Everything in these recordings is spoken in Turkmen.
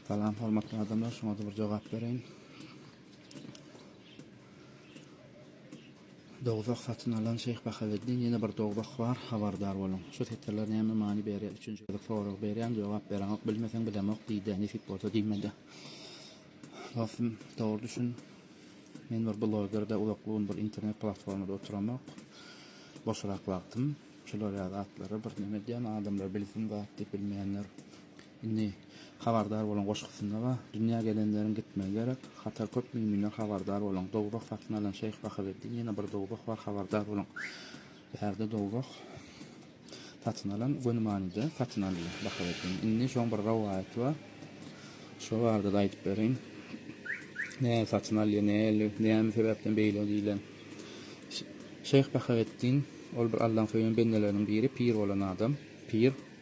Salam hormatly adamlar, şoňa-da bir jogap bereýin. Dowzah satyn alan Şeýh Bahaweddin ýene bir dowzah bar, habardar boluň. Şu setirler näme many berýär, üçünji gezek sorag berýän, jogap bereňok, bilmeseň bilemok diýdä, nesip bolsa diýmedä. Dostum, dogry düşün, men bir bloger-de, uzak gün bir internet platformada oturamok. Boşrak wagtym, şular ýaly zatlary bir neme edýän, adamlar bilsin zat diýip bilmeýänler. Indi habardar boluň goşgusynda bar. Dünýä gelenleriň gitmegi gerek. Hatar köp müminler habardar boluň. Dowzah satyn alan şeýh Bahaweddin ýene bir dowzah bar habardar boluň. Bärde dowzah satyn alan göni manyda satyn aldy Bahaweddin. Indi şoň bir rowaýaty bar. Şo barada da aýdyp bereýin. Näme satyn alýar, näli, näme sebäpden beýle diýlen. Şeýh Bahaweddin ol bir Allaň söýen bendeleriniň biri pir bolan adam. Pir.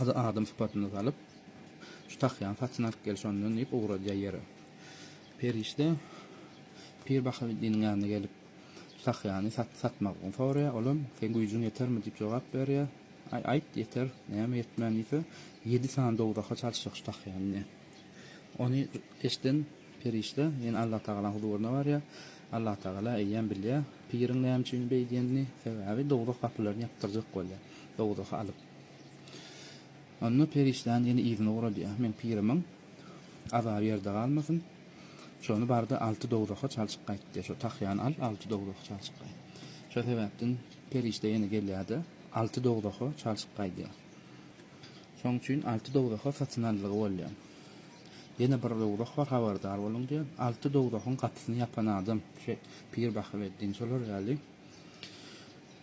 Ady adam sypatyna salyp, Şu tahýany satyn alyp gel şondan diýip ugradýar ýere. Perişde Pir Bahaweddiniň ýanyna gelip, şu tahýany satmagyny soraýar. Olam, Seň güýjüň ýetermi? diýip jogap berýär. Aý, aýt, ýeter, näme ýetmän diýse, ýedi sany dowzaha çalyşjak şu tahýany diýýär. Ony eşden perişde ýene Allatagalanyň huzuryna barýar. Allatagala eýýäm bilýär, piriň näme üçin beýdýänini, sebäbi dowzah gapylaryny ýapdyrjak bolýar, dowzahy alyp. Onda perişdäni ýene yzyna ugradýar. Meň pirimiň azaby ýerde galmasyn. Şony bar-da alty dowzaha çalşyp gaýt diýýär. Şo tahýany al, alty dowzaha çalşyp gaýt. Şo sebäpden perişde ýene gelýär-de, alty dowzaha çalşyp gaýdýar. Şonuň üçin alty dowzaha satyn aldygy bolýar. Ýene bir dowzah bar, habardar boluň diýýär. Alty dowzahyň gapysyny ýapan adam, şe, pir Bahreddin, şolar ýaly.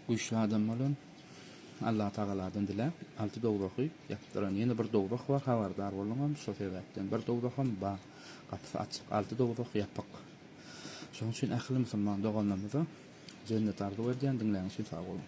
Güýçli adam bolan. Allah tagaladan diläp alty dowzahy ýapdyran ýene bir dowzah bar habardar boluňam şo sebäpden bir dowzaham bar gapysy açyk alty dowzah ýapyk şoň üçin ähli musulman doganlarymyza jennet arzuw edýän diňläni üçin sag boluň.